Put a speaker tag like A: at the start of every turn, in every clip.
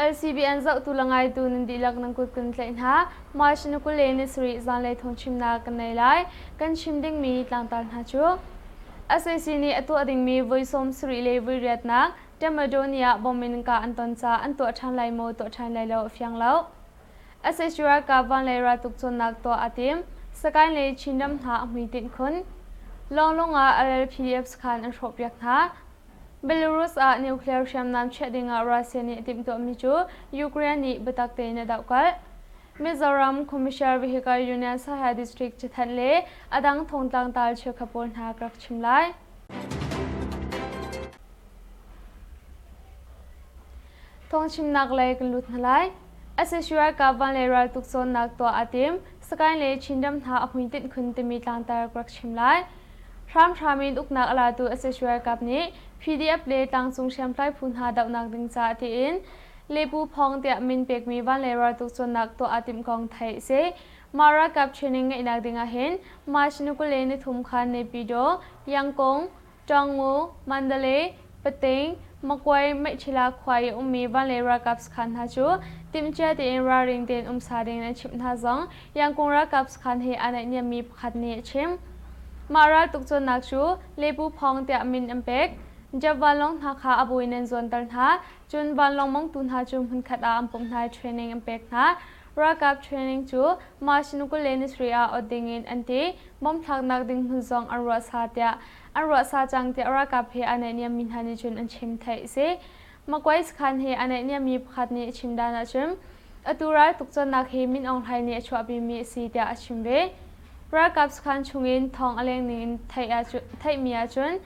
A: LCBN zohtu le ngaitu nan dihlak nan kut kan tlaih hna. March ni kul le ni sarih zanlei thawngchimnak kan nei lai. Kan chim dingmi tlangtar hna cu SAC nih a tuah dingmi voi sawm sarih le voi riatnak Temadonia bomb in ka an ton ca an tuah ṭhan lai maw tuah ṭhan lai lo a fiang lo. Etc. Ka van le ral tuk cawnnak tuah aa tim. Sakain le Chinram hna a hmuitinh khun. Lawnglawng ah RL PDFs khan an hrawhpiak hna. Belarus ah nuclear hriamnam chiah dingah Russia nih a timhtuahmi cu Ukraine nih biatak tein a dohkalh. Mizoram Commissioner Vehicle Union Sahel District cathanh le a dang thongtlang tal cheukhat pawl hna ka rak chim lai. Thong chimnak lei kan lut hna lai. Asashiwa Kavan le raltuk cawnnak tuah aa tim. Sagaing le Chinram hna a hmuitinh khun timi tlangtar ka rak chim lai. Hramhram in uknak a latu Asashiwa Kap nih PDF le tlangcung hriamtlai phu hna dohnak ding caah tiin Lepu Phawng tiah min pekmi van le raltuk cawnnak tuah aa timh kong theih a si. Mah ralkap training ngeihnak ding ah hin March ni kul le ni thum khan Nepydaw, Yangkong, Ṭaungmu, Mandalay, Pateing, Makwae, Mehchila khua i ummi van le ralkap sakhan hna cu timhcia tein ralring tein umsa ding in an chimh hna zong Yangkung ralkap sakhan he aa naihniammi pakhat nih a chim. Mah raltuk cawnnak cu Lepu Phawng tiah min an pek. Jeff vanlawng hna kha a bu in an zuanter hna, cun vanlawng mongtu hna cu hmunkhat ah an pumh hna i training an pek hna. Ralkap training cu Mashnukule-Nisri ah awt dingin an ti. Bomb thlaknak ding hmun zong an ruahsa tiah an ruahsa cang tiah ralkap he aa naihniammi hna nih cun an chim theih a si. Makwai sakhan he aa naihniammi pakhat nih a chim dan ahcun atu ral tukchannak hi Min Aung Hlaing nih a chuahpimi a si tiah a chim ve. Ralkap sakhan chungin thawng a lengning in theihmi ahcun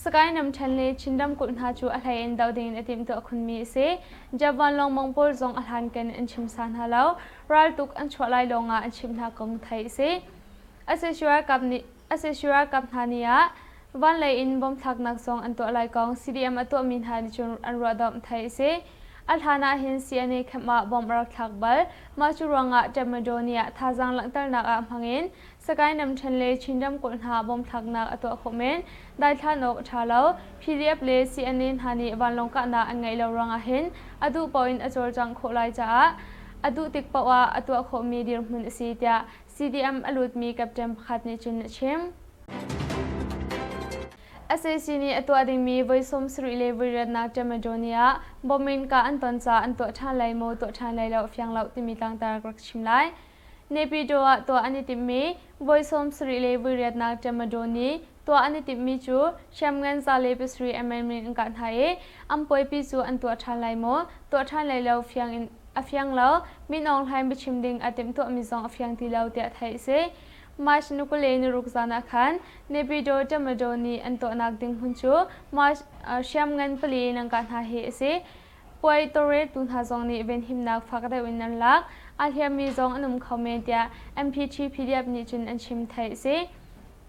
A: Sagaing ramṭhen le Chin ramkulh hna cu a hlei in doh dingin a timhtuah khunmi a si. Jab vanlawng mangpawl zong a hlankan an chim sa hna lo. Raltuk an chuah lai lawngah an chimh hna kum theih a si. Asesi ralkap hna nih ah vanlei in bom thlaknak zong an tuah lai kong CDM a tuahmi hna nih cun an ruahdomh theih a si. A hlan ahhin CNA camp ah bomb a rak thlak bal. Mah cu ruangah Tadmadaw ni ah thazaang langhternak ah hmangin Sakae Namthen le Chin ramkulh hna bawmhthlaknak a tuah khawh men, daithlan awk a ṭha lo. PDF le CNA hna nih vanlawng kahnak an ngeih lo ruangah hin a duh paoh in a cawlcangh khawh lai caah a duh tik paoh ah a tuah khawhmi dirhmun a si tiah CDM a lutmi captain pakhat nih cun a chim. SAC nih a tuah dingmi voi sawmsarih le voi riatnak Temadonie ah bomb in kah an ton caah an tuah ṭhan lai maw tuah ṭhan lai lo fiang loh timi tlangtar ka rak chim lai. Nepido ah tuah an i timhmi voi sawmsarih le voi riatnak ṭemado nih tuah an i timhmi cu hriamngan za le pasarih a menmin an kah hna i an puaipi cu an tuah ṭhan lai maw, tuah ṭhan lai lo fiang in a fiang lo, min aung hlain biachim ding a timhtuahmi zong a fiang ti lo tiah theih a si. March ni kul le niruk zan ah khan Nepido ṭemado nih an tuahnak ding hmun cu March hriamngan pali in an kah hna hi a si. puai tawlreltu hna zong nih venhimnak fak deuh in an lak. Aa hliammi zong an um kho men tiah MP3 PDF nih cun an chim theih a si.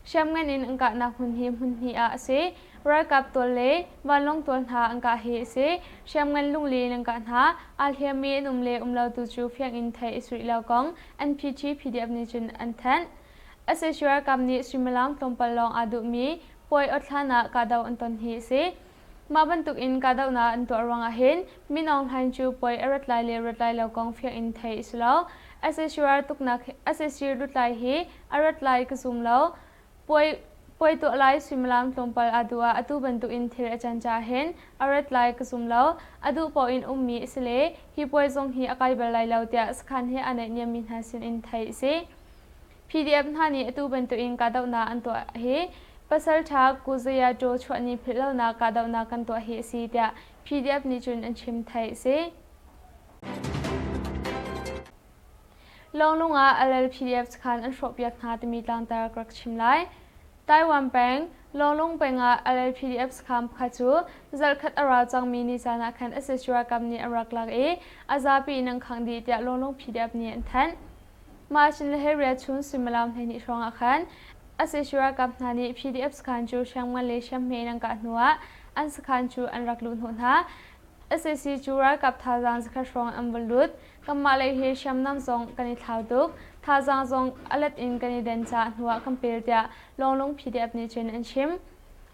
A: Hriamngan in an kahnak hmun hi hmun hnih ah a si. Ralkap tual le vanlawng tual hna an kah hi a si. Hriamngan lungli in an kah hna. Aa hliammi an um le um lo tu cu fiang in theih a suih lo kong NPT PDF nih cun an thanh. SSU ralkap nih suimilam tlawmpal lawng aa duhmi puai awt hlan ah kahdoh an ton hi a si. Mah bantukin kahdohnak an tuah ruangah hin Min Aung Hlaing cu puai a rat lai le rat lai lo kong fiang in theih a si lo. SSUR tuknak SSU lutlai hi a rat lai ka zum lo. Puai puai tuah lai suimilam tlawmpal aa duh ah atu bantukin thil a can caah hin a rat lai ka zum lo. A duh paoh in ummi a si le hi puai zong hi a kai bal lai lo tiah sakhan he aa naihniammi hna sin in theih a si. PDF hna nih atu bantukin kahdohnak an tuah hi Pasalṭha Kuzayajaw chuahni philhlonak kahdohnak kan tuah hi a si tiah PDF nih cun an chim theih a si. Lawnglung ah alal PDF sakhan an hrawhpiak hna timi tlangtar ka rak chim lai. Taiwan peng Lawnglung peng ah alal PDF sakham pakhat cu zarhkhat a ra cangmi ni caan ah khan SSU ralkap nih a rak lak i a zapi in an khangh dih tiah Lawnglung PDF nih an thanh. March ni le he riachun suimilam hleihnih hrawng ah khan SAC ralkap hna nih PDF sakhan cu hriamngan le hriamhme in an kah hnu ah an sakhan cu an rak luh hnawh hna. SAC cu ralkap thazaang zakhat hrawng an vun lut. Kanmah lei hi hriamnam zong kan i thlau tuk. Thazaang zong a let in kan i den caah hnu ah kan pel tiah Lawnglung PDF nih cun an chim.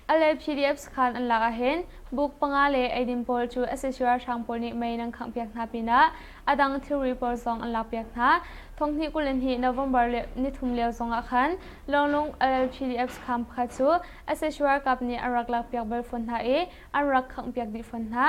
A: A le PDFs khan an lak ahhin book panga le eidin pawl cu sac ralhrang pawl nih mei nan khanghpiak hna pinah a dang thilri pawl zong an lakpiak hna. Thonghnih kul in hnih November le nithum lio zongah khan lawnglawng LLPDFs kham pakhat cu sac ralkap nih an rak lakpiak bal fawn hna i an rak khanghpiak dih fawn hna.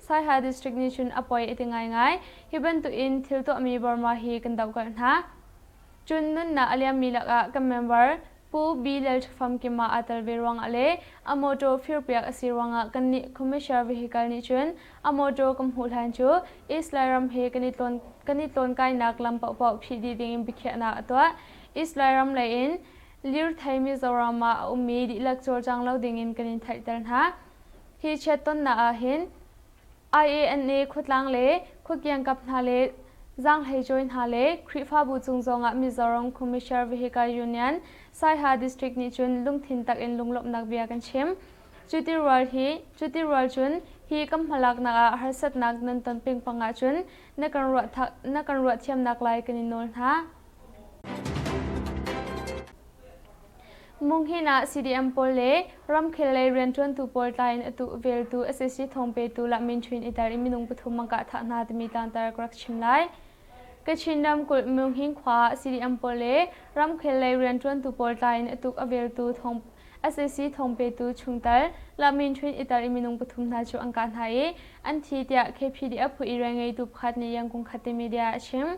A: Saiha District nih cun a poi a ti ngaingai. Hi bantuk in thil tuahmi Burma hi kan dohkalh hna. Cun nunnak a liammi lakah kan member Pu Bi Lal Ṭhafam Kim ah aa tel ve ruangah le a mawṭaw firpiak a si ruangah kannih Commissioner Vehicle nih cun a mawṭaw kan hmuh hlan cu East Lairam he kan i tlawn kan i tlawnkainak lam paohpaoh phih dih dingin biakhiahnak a tuah. East Lairam lei in lirthei Mizoram ah a ummi dihlak cawlcang lo dingin kan in theihter hna. Hi chiattonnak ah hin IANA khuatlang le khuakiangkap hna le zaanghleicawi hna le Khrihfabu cung zongah Mizoram Commissioner Vehicle Union Saiha District nih cun lungthin tak in lunglawmhnak bia kan chim. Cuti rual cun hi kan hmalaknak ah harsatnak nan ton peng pang ahcun na kan ruah thiamnak lai kan i nawl hna. Munghin ah CDM pawl le ramkhel lei rianṭuantu pawl tla in a tuh veltu sac thawng petu Lah Min Ṭhwin i tar i minung pathum an kah thah hna timi tangtar ka rak chim lai. Kachin ramkulh Munghin khua ah CDM pawl le ramkhel lei rianṭuantu pawl tla in a tuk a veltu thawng sac thawng petu chungtel Lah Min Ṭhwin i tar i minung pathum hna cu an kah hna i an thi tiah KPDF phu irel ngeitu pakhat nih Yangkung Khatte Media a chim.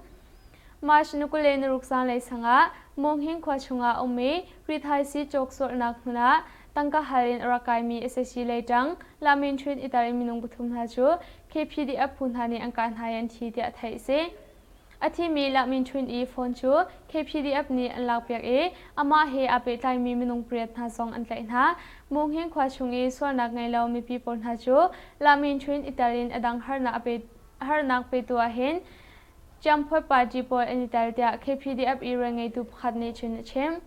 A: March ni kule naruk zanlei sangah Monghing khua chungah a um i rithaisii cawk sualnak hmun ah tangka hal in a rak kaimi SSC lei ṭang Lamin Ṭhit itar i minung pathum hna cu KPDF phu hna nih an kah hna i an thi tiah theih a si. A thimi Lamin Ṭhit i phone cu KPDF nih an lakpiak i amah he aa pehtlaimi minung pariat hna zong an tlaih hna. Monghing khua chung i sualnak ngei lo mipi pawl hna cu Lamin Ṭhit itar in a dang harnak petu ahhin Ciangphuai party pawl an i tel tiah KPDF irel ngeitu pakhat nih cun a chim.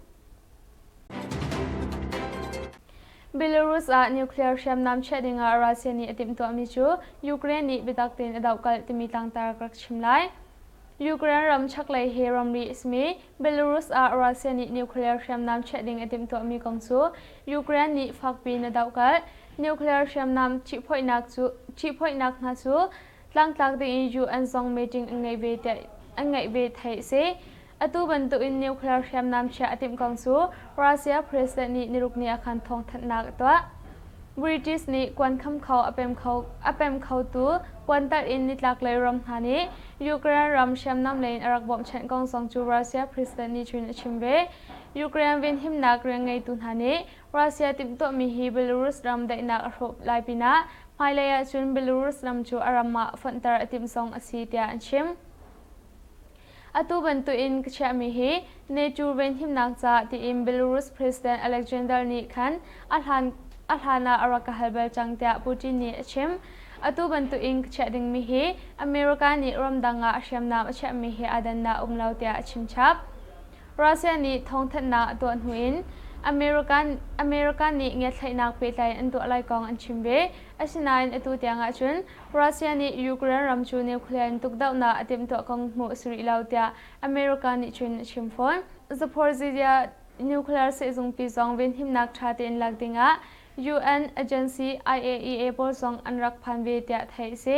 A: Belarus ah nuclear hriamnam chiah dingah Russia nih a timhtuahmi cu Ukraine nih biatak tein a dohkalh timi tlangtar ka rak chim lai. Ukraine ram chaklei he ramri a simi Belarus ah Russia nih nuclear hriamnam chiah ding a timhtuahmi kong cu Ukraine nih fakpiin a dohkalh. Nuclear hriamnam ṭihphoihnak cu ṭihphoihnak hna cu tlangtlak tein UN zong meeting an ngeih ve theih a si. Atu bantukin nuclear hriamnam chiah a timh kong cu Russia president nih nirukni ah khan thawngthanhnak a tuah. British nih kuan khamkho a pem khotu puantarh in nitlaklei ram hna nih Ukraine ram hriamnam lei in a rak bawmhchanh kong zong cu Russia president nih cun a chim ve. Ukraine venhimnak rian ngeitu hna nih Russia timhtuahmi hi Belarus ram daihnak a hrawh lai pinah hmailei ahcun Belarus ram cu a ram ah fonhter a timh zong a si tiah an chim. Atu bantukin ka chiahmi hi NATO venhimnak ca tiin Belarus President Alexander nih khan a hlan a hlan ah a rak ka hal bal cang tiah Putin nih a chim. Atu bantukin ka chiah dingmi hi America nih ramdang ah hriamnam a chiahmi hi aa dannak um lo tiah a chimchap. Russia nih thawngthanhnak a tuah hnu in America nih ngiatthlaihnak pehtlai an tuah lai kong an chim ve. Asinain atu tiang ahcun Russia nih Ukraine ram cu nuclear in tukdohnak a timhtuah kong hmuh a si rih lo tiah America nih cun a chim fawn. Zaporizhzhia nuclear sehzungpi zong venhimnak ṭha tein lak dingah UN agency IAEA pawl zong an rak phan ve tiah theih a si.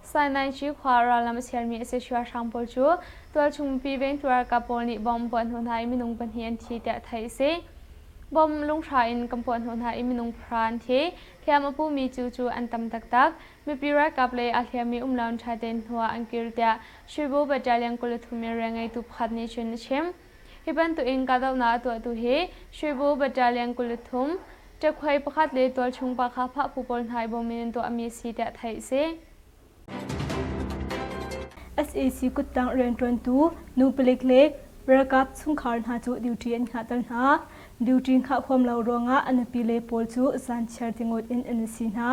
A: Sainaici khua rallam a sermi a si hruahrang pawl cu tualchungmipi vengtu ralkap pawl nih bomb puah hnu hna i minung pahnih an thi tiah theih a si. Bomb lunghrah in kan puah hnu hna i minung pahra an thi. Hliam a pumi cu cu an tam taktak. Mipi ralkap lei aa hliammi um lo in ṭha tein hnu ah an kir tiah Shuibu Battalion kul le thum in rian ngeitu pakhat nih cun a chim. Hi bantukin kahdohnak a tuahtu hi Shuibu Battalion kul le thum, ṭekhuai pakhat le
B: tualchung pa kha phahphu pawl hna i bawm in an tuahmi a si tiah theih a si. sac kuttang rianṭuantu nu palik le ralkap chungkhar hna cu duty an hngahter hna. Duty hngah huam lo ruangah a nupi le pawl cu zan chiar tingot in an si hna.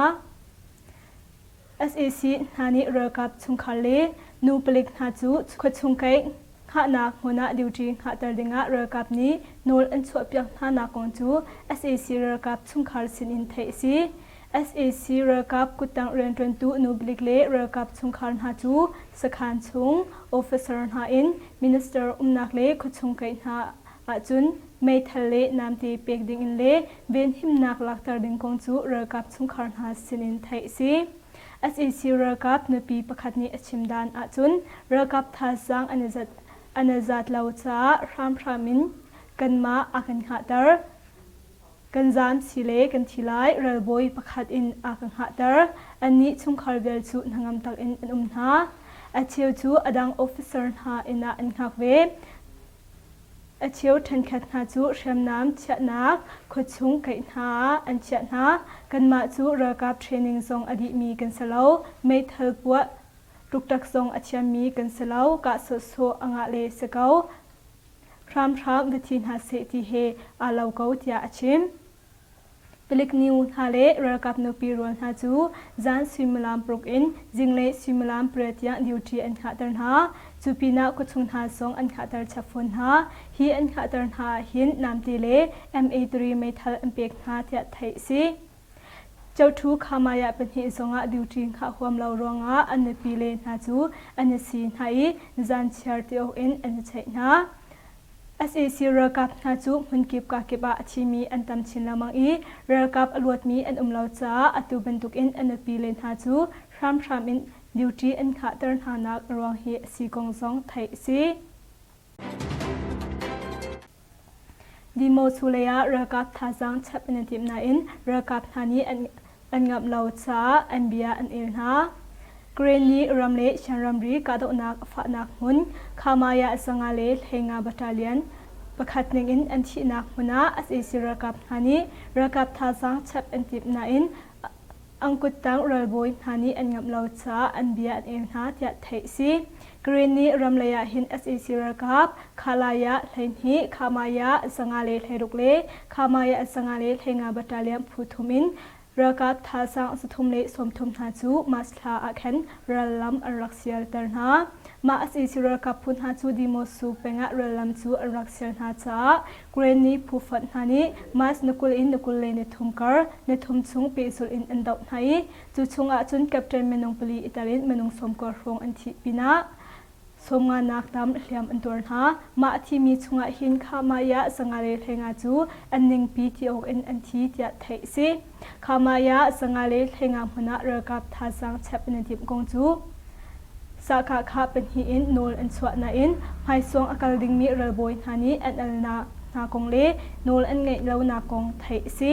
B: sac hna nih ralkap chungkhar le nu palik hna cu khuachung kaih hngahnak hmun ah duty hngahter dingah ralkap nih nawl an chuahpiak hnanak kong cu sac ralkap chungkhar sinin theih a si. sac ralkap kuttang rianṭuantu nu palik le ralkap chungkhar hna cu sakhan chung officer hna in minister umnak le khuachung kaih hna ahcun meithal le namte pek dingin le venhimnak lakter ding kong cu ralkap chungkhar hna sinin theih a si. SAC ralkap nupi pakhat nih a chim dan ahcun ralkap thazaang an i zat lo caah hramhram in kanmah a kan hngahter. Kan zaam si le kan thi lai ralbawi pakhat in a kan hngahter. Annih chungkhar vial cu hnangam takin an um hna. A cheu cu a dang officer hna inn ah an hngak ve. A cheu ṭhenkhat hna cu hriamnam chiahnak khuachung kaih hna an chiah hna. Kanmah cu ralkap training zong a dihmi kan si lo. Meithal puah tuktak zong a thiammi kan si lo. Kah sawhsawh a ngah le si ko. Hramhram va thi hna seh ti he aa lo ko tiah a chim. Tuluk nu hna le ralkap nupi rual hna cu zan suimilam paruk in zinglei suimilam pariat tiang duty an khahter hna. Cu pinah khuachung hna zong an khahter chap fawn hna. Hi an khahter hna ahhin Namte le Ma3 meithal an pek hna tiah theih a si. Chotu Khamaya pahnih zongah duty khah huam lo ruangah an nupi le hna cu an i si hna i zan chiar ti awk in an i cheih hna. Sac ralkap hna cu hmunkip kakip ah a thimi an tam chin lengmang i ralkap a luatmi an um lo caah atu bantukin a nupi-le hna cu hramhram in duty an khahter hnanak a ruang hi a si kong zong theih a si. Dimo Su lei ah ralkap thazaang chap in an timh nain ralkap hna nih an an ngamh lo caah an bia an el hna. Karen nih ram le Shan ramri kahdohnak a fahnak hmun Khamaya Sanga le Hleinga battalion pakhat ningin an thihnak hmun ah sac ralkap hna nih ralkap thazaang chap an timh nain angkuttang ralbawi hna nih an ngamh lo caah an bia an el hna tiah theih a si. Green nih ram lei ah hin sac ralkap Khalai ah hleihnih, Khamai ah zanga le hleiruk le Khamai ah zanga le hleinga battalion phu thum in ralkap thalsang sathum le sawmthum hna cu Masthla ah khan rallam an rak sialter hna. Mah sac ralkap phu hna cu Dimosu peng ah rallam cu an rak sial hna caah Green nih phu fonh hna nih Mas na kul in na kul le na thum kar, na thum chung pehzulh in an doh hna i Cu chungah cun Captain minung pali i telin minung sawmkua hrawng an thih pinah sawmnganak tam hliam an tuar hna. Mah a thimi chungah hin Khamaya Sangare Hlenga cu an ningpi ti awk in an thi tiah theih a si. Khamaya Sangare Hlenga hmun ah ralkap thazaang chep in a dimh kong cu Sahkahka pahnih in nawl an chuah nain hmaisuang a kal dingmi ralbawi hna nih an alnak hna kong le nawl an ngeih lonak kong theih a si.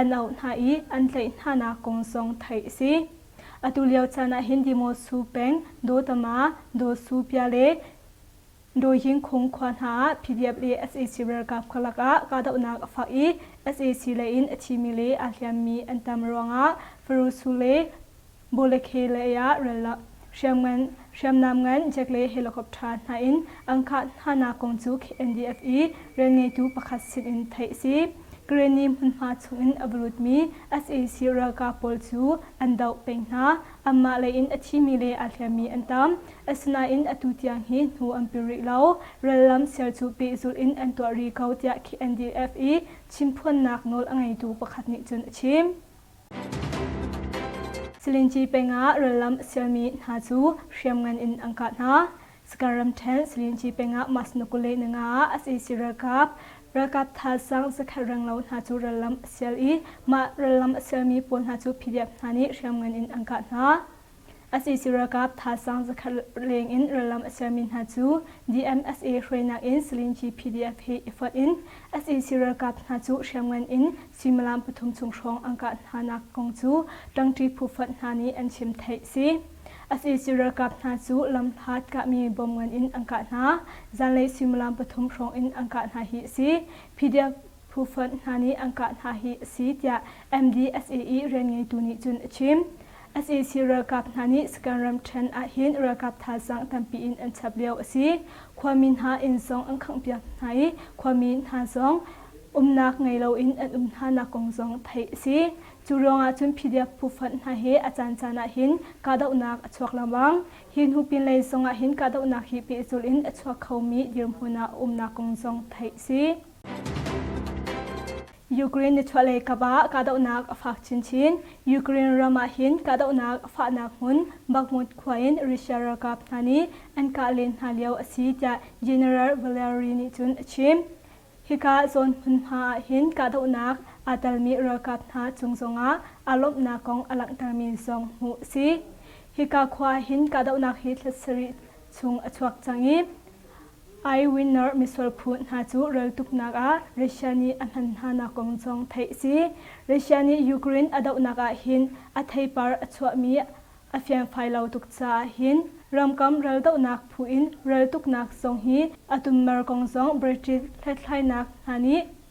B: an auh hna i an tlaih hnanak kong zong theih a si. Atulio caan ah hin Dimosu peng Dotama, Dosu-pya le Doyingkhung khua hna ah PDF le sac ralkap kha lakah kahdohnak a fak i sac leiin a thimi le aa hliammi an tam ruangah Farusu le Bawlekhe lei ah ralak hriamngan, hriamnam ngan jet le helicopter hna in an kah hnanak kong cu KNDF i rianngeitu pakhat sinin theih a si. Kareni hmunhma chungin a va lutmi sac ralkap pawl cu an doh peng hna. Anmah lei in a thimi le aa hliammi an tam. Asinain atu tiang hi hnu an pil rih lo. Rallam ser cu pehzulh in an tuah rih ko tiah KNDF i chimphuannak nawl a ngeitu pakhat nih cun a chim. Silinci peng ah rallam a sialmi hna cu hriamngan in an kah hna. Sakan ramṭhen Silinci peng ah Masnakule Nanga ah SAC ralkap ralkap thaasang zakhat renglo hna cu rallam a sial i mah rallam a sialmi pawl hna cu PDF hna nih hriamngan in an kah hna. A cc ralkap thaasang zakhat leng in rallam a sermi hna cu DMSA hruainak in Salinji PDF he i fonh in a cc ralkap hna cu hriamngan in suimilam pathum chung hrawng an kah hnanak kong cu ṭangṭi phufonh hna nih an chim theih si. A cc ralkap hna cu lamhlat kahmi bom ngan in an kah hna, zanlei suimilam pathum hrawng in an kah hna hi a si. PDF phufonh hna nih an kah hna hi a si tiah MDSAE rianngeitu nih cun a chim. Sac ralkap hna nih Saka'n ramṭhen ahhin ralkap thazaang tampi in an chap lio a si. Khuami hna inn zong an khanghpiak hna i khuami hna zong umnak ngei loin an um hnanak kong zong theih a si. Cu ruangah cun PDF phu-fanh hna he a caancaan ahhin kahdohnak a chuak lengmang. Hi hnu pinlei zongah hin kahdohnak hi pehzulh in a chuak khomi dirhmun ah a umnak kong zong theih a si. Ukraine nichuahlei kap ah kahdohnak a fak chinchin. Ukraine ram ahhin kahdohnak a fahnak hmun Bakhmut khua in Russia ralkap hna nih an kah len hna lio a si tiah General Valery nih cun a chim. Hika zawn hmunhma ahhin kahdohnak aa telmi ralkap hna cung zongah aa lawmhnak kong a langhtermi zong hmuh a si. Hika khua ahhin kahdohnak hi thla sarih chung a chuak cang i Eyewinner misual phu hna cu raltuknak ah Russia nih a hman hnanak kong zong theih a si. Russia nih Ukraine a dohnak ahhin a theipar a chuahmi a fiangfai lo tuk caah hin ramkam raldohnak phu in raltuknak zong hi a tummar kong zong British hlathlainak hna nih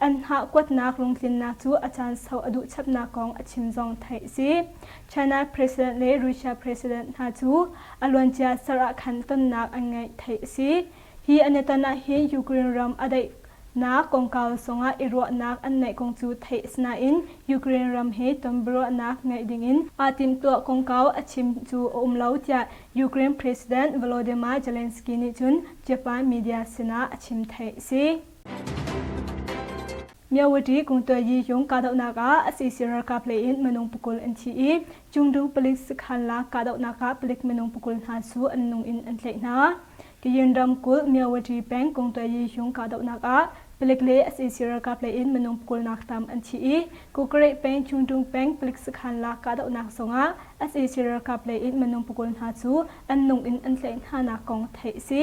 B: An hngah kuatnak lungtlinnak cu a caan sau a duhchapnak kong a chim zong theih a si. China President le Russia President hna cu a luancia ser ah khan tonnak an ngeih theih a si. Hi an i ton ahhin Ukraine ram a daihnak kongkau zongah i ruahnak an neih kong cu theih a si nain Ukraine ram he ton biaruahnak ngeih dingin aa timhtuah kongkau a chim cu a um lo tiah Ukraine President Volodymyr Zelensky nih cun Japan media sinah a chim theih a si. Myawati kungtayi yung kahdohnak ah SEC ralkap lei in minung pakul an thi i Chungdu palik sakhan la kahdohnak ah palik minung pakul hna su an nung in an tlaih hna. Kayin ramkulh Myawati peng kungtayi yung kahdohnak ah palik le SEC ralkap lei in minung pakul nak tam an thi i Kukareh peng Chungdung peng palik sakhan la kahdohnak zongah SEC ralkap lei in minung pakul hna cu an nung in an tlaih hnanak kong theih a si.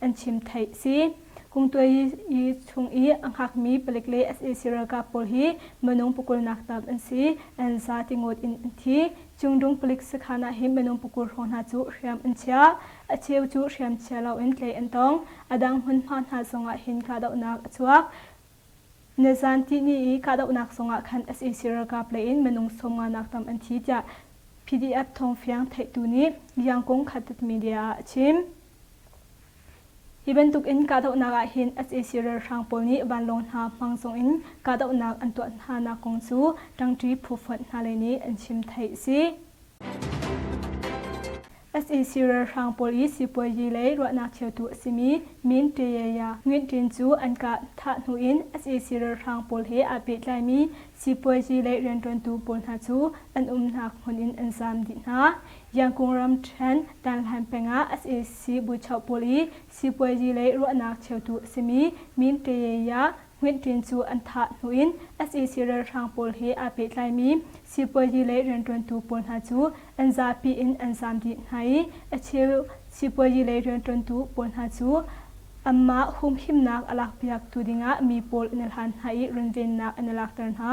B: an chim theih a si. Kungtuai chung i a hngakmi palik le sac ralkap pawl hi minung pukulnak tam an si. An za tingut in an thi. Cungdung palik sakhan ah hi minung pukur hrawng hna cu hriam an chiah. A cheu cu hriam chia loin tlaih an tong. A dang hmunhma hna zongah hin kahdohnak a chuak. Nizan tihni i kahdohnak zongah khan sac ralkap lei in minung sawmnganak tam an thi tiah PDF thawng fiang theihtu nih Liangkung Khattat Media ah a chim. Hi bantuk in kahdohnak ah hin sac ralhrang pawl nih vanlawng hna hmang chung in kahdohnak an tuah hnanak kong cu ṭangṭi phufuat hna lei nih an chim theih a si. sac ralhrang pawl i sipuazi lei ruahnak cheutu a simi Min Tayaya Nguyen Tin cu an kah thah hnu in sac ralhrang pawl he aa pehtlaimi sipuazi lei rianṭuantu pawl hna cu an umnak hmun in an zam dih hna. Yangon ramṭhen Tanhlan peng ah sac buchoh pawl i sipuazi lei ruahnak cheutu a simi Min Kayaya Hngwin Ṭin cu an thah hnu in sac ralhrang pawl he aa pehtlaimi sipuazi lei rianṭuantu pawl hna cu an zapi in an zaam dih hna i a cheu sipuazi lei rianṭuantu pawl hna cu anmah humhimnak a lakpiaktu dingah mi pawl an i hlan hna i runvennak an i lakter hna.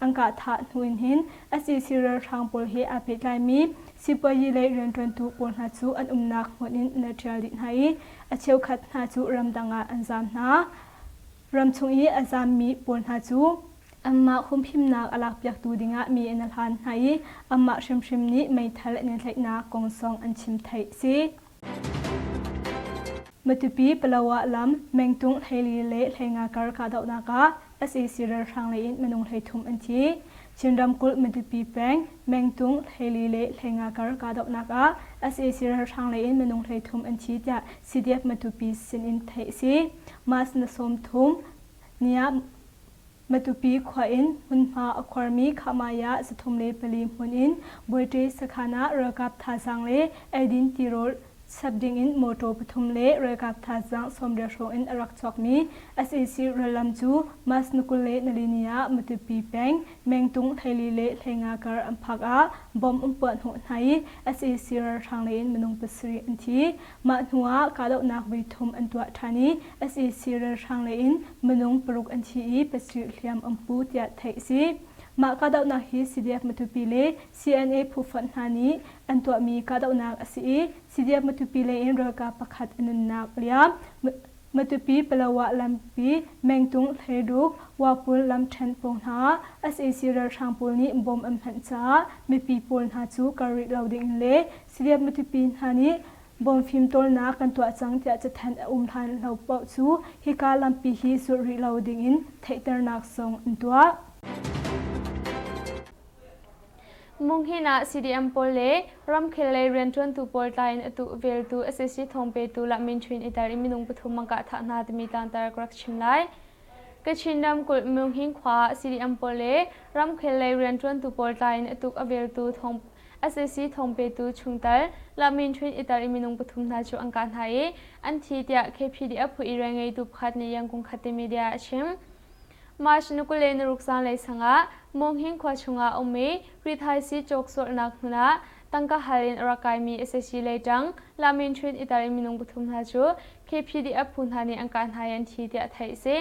B: An kahthah hnu in hin SEC ralhrang pawl he aa pehtlaimi sipuazi lei rianṭuantu pawl hna cu an umnak hmun in an rak ṭial dih hna i a cheukhat hna cu ramdang ah an zaam hna. Ramchung i a zaammi pawl hna cu anmah humhimnak a lakpiaktu dingah mi an hlan hna i anmah hrimhrim nih meithal an i tlaihnak kong zong an chim theih a si. Matupi Palawa lam mengtung hlei le hleinga kar kahdohnak ah sac ralhrang lei in minung hleithum an thi. Chin ramkulh Matupi peng mengtung hlei le hleinga kar kahdohnak ah sac ralhrang lei in minung hleithum an thi tiah CDF Matupi sin in theih a si. Mas na sawm thum, niah Matupi khua in hmunhma a khuarmi Khahmaya zathum le pali hmun in Buaṭe sakhan ah ralkap thazaang le eidin tirolh chap dingin mawṭaw pathum le ralkap thazaang sawmriat hrawng in a rak cawkmi sac rallam cu Mas ni kul le nalini ah Matupi peng Mengtung Theili le Hleinga kar an phak ah bomb an puah hnawh hna i sac ralhrang lei in minung pasarih an thi. Mah hnuah kahdohnak voi thum an tuah ṭhan i sac ralhrang lei in minung paruk an thi i pasarih hliam an hmu tiah theih a si. Mah kahdohnak hi CDF-Matupi le CNA phufonh hna nih an tuahmi kahdohnak a si i CDF-Matupi lei in ralkap pakhat a nunnak a liam. Matupi-Palawa lampi, Mengtung, Hleiruk, Wapul lam ṭhen pawng hna ah sac ralhrang pawl nih bom an hmanh caah mipi pawl hna cu kal rih lo ding in le Civep miṭipi hna nih bawm fimtawlnak kan tuah cang tiah cathanh a um hlan lo paoh cu hika lampi hi zulh rih lo dingin theihternak zong an tuah.
A: Munghin ah CDM pawl le ramkhel lei rianṭuantu pawl tla in atu veltu sac thawng petu Lahmyintwin Itar i minung pathum an kah thah hna timi tangtar ka rak chim lai. Kachin ramkulh Munghin khua ah CDM pawl le ramkhel lei rianṭuantu pawl tla in a tuk a veltu thawng sac thawngpetu chungtel La Min Htwin Itar i minung pathum hna cu an kah hna i an thi tiah KPDF phu irael ngeitu pakhat nih Yangon Khatte media a chim. March ni kul le naruk zanlei sang ah Monghing khua chungah a um i rithaisii cawk sualnak hmun ah tangka hal in a rak kaimi sac leitang La Min Htwin Itar i minung pathum hna cu KPDF phu hna nih an kah hna i an thi tiah theih a si.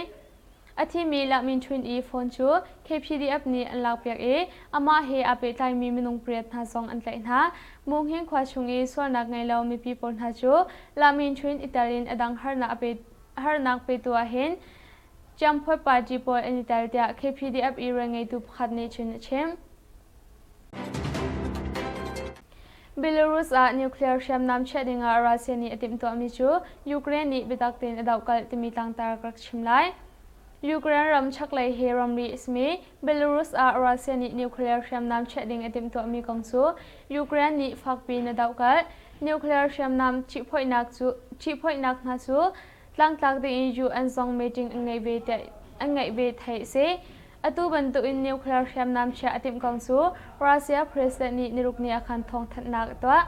A: A thimi Lahmin Ṭhun-i phone cu KPDF nih an lakpiak i amah he aa pehtlaimi minung pariat hna zong an tlaih hna. Muhnghin khua chung i sualnak ngei lo mipi pawl hna cu Lahmin Ṭhun i tel in a dang harnak petu ahhin Ciangphuai party pawl an i tel tiah KPDF i rian ngeitu pakhat nih cun a chim. Belarus ah nuclear hriamnam chiah dingah Russia nih a timhtuahmi cu Ukraine nih biatak tein a dohkalh timi tlangtar ka rak chim lai. Ukraine ram chaklei he ramri a simi Belarus ah Russia nih nuclear hriamnam chiah ding a timhtuahmi kong cu Ukraine nih fakpi in a dohkalh. Nuclear hriamnam ṭihphoihnak cu ṭihphoihnak hna cu tlangtlak tein UN zong meeting an ngeih ve theih a si. Atu bantukin nuclear hriamnam chiah a timh kong cu Russia president nih nirukni ah khan thawngthanhnak a tuah.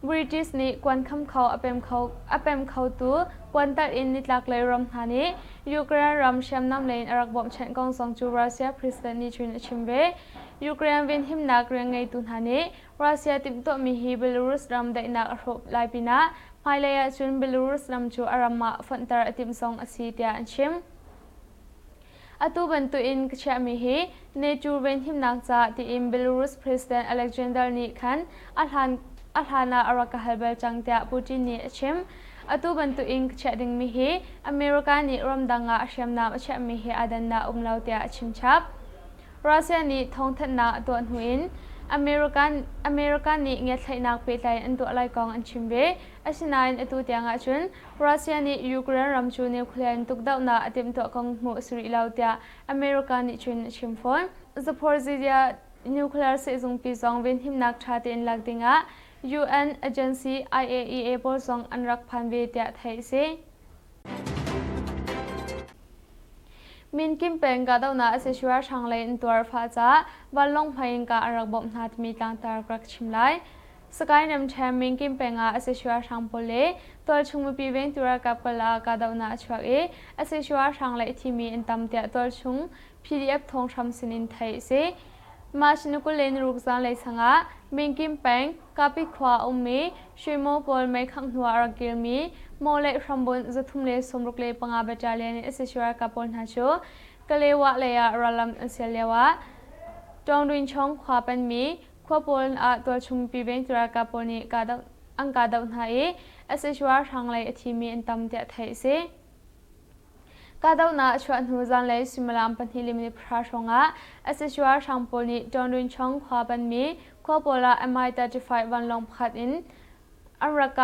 A: British nih kuan khamkho a pem khotu puantarh in nitlaklei ram hna nih Ukraine ram hriamnam lei in a rak bawmhchanh kong zong cu Russia president nih cun a chim ve. Ukraine venhimnak rian ngeitu hna nih Russia timhtuahmi hi Belarus ram daihnak a hrawh lai pinah hmailei ahcun Belarus ram cu a ram ah fonhter a timh zong a si tiah an chim. Atu bantuin ka chiahmi hi NATO venhimnak ca tiin Belarus President Alexander nih khan a hlan a hlan ah a rak ka hal bal cang tiah Putin nih a chim. Atu bantuin ka chiah dingmi hi America nih ramdang ah hriamnam a chiahmi hi aa dannak um lo tiah a chimchap. Russia nih thawngthanhnak a tuah hnu in America nih ngiatthlaihnak pehtlai an tuah lai kong an chim ve. Asinain atu tiang ahcun Russia nih Ukraine ram cu nuclear in tukdohnak a timhtuah kong hmuh a si rih lo tiah America nih cun a chim fawn. Zaporizhzhia nuclear sehzungpi zong venhimnak ṭha tein lak dingah UN agency IAEA pawl zong an rak phan ve tiah theih a si. Min Kim peng kahdohnak a casual hranglei in tuar fah caah vanlawng hmai innka a rak bawmh hna timi tlangtar ka rak chim lai. Sakae Nemthem Min Kim peng ah a casual hrang pawl le tualchung mipi vengtu ralkap kal ah kahdohnak a chuak i a casual hrang lei thimi an tam tiah tualchung PDF thawnghrang sinin theih a si. March ni kul le naruk zanlei sangah Minkim peng Kapi khua a ummi Shwimo pawl meikhangh hnu ah a rak kirmi Mo le hrambunh zathum le sawmruk le panga battalion in sac ralkap pawl hna cu Kalewah lei ah rallam an sial lioah Tawngduinchawng khua panmi khua pawl ah tualchungmipi vengtu ralkap pawl nih an kahdoh hna i sac ralhrang lei a thimi an tam tiah theih a si. kahdohnak a chuah hnu zanlei suimilam pahnih le minute pahra hrawngah sac ralhrang pawl nih ṭawnrunchong khua banmi khua pawl ah mi35 vanlawng pakhat in an rak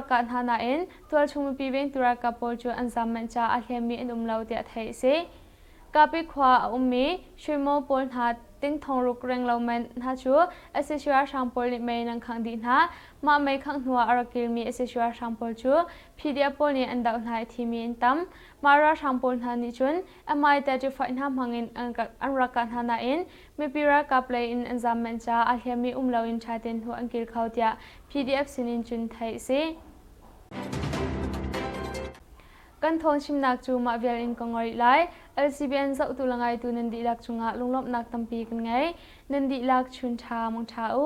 A: kah hna nain tualchung mipi vengtu ralkap pawl cu an zam manh caah a hleemmi an um lo tiah theih a si kapi khua a ummi shuimaw pawl hna tingthong ruk reng lo men hna cu sac ralhrang pawl nih mei nan khangh dih hna mah mei khangh hnuah a rak kilmi sac ralhrang pawl cu PDF pawl nih an doh hna i thimi an tam. Mah ralhrang pawl hna nih cun MI35 hna hmangin an rak kah hna nain mipi ralkap lei in an zam manh caah aa hliammi um loin ṭha tein hnu an kil kho tiah PDF sinin cun theih a si. Kan thawngchimnak cu mah vial in ka ngol rih lai. LCBN zohtu le ngaitu nan dihlak cungah lunglawmhnak tampi kan ngei. Nan dihlak chun ṭha mong ṭha u.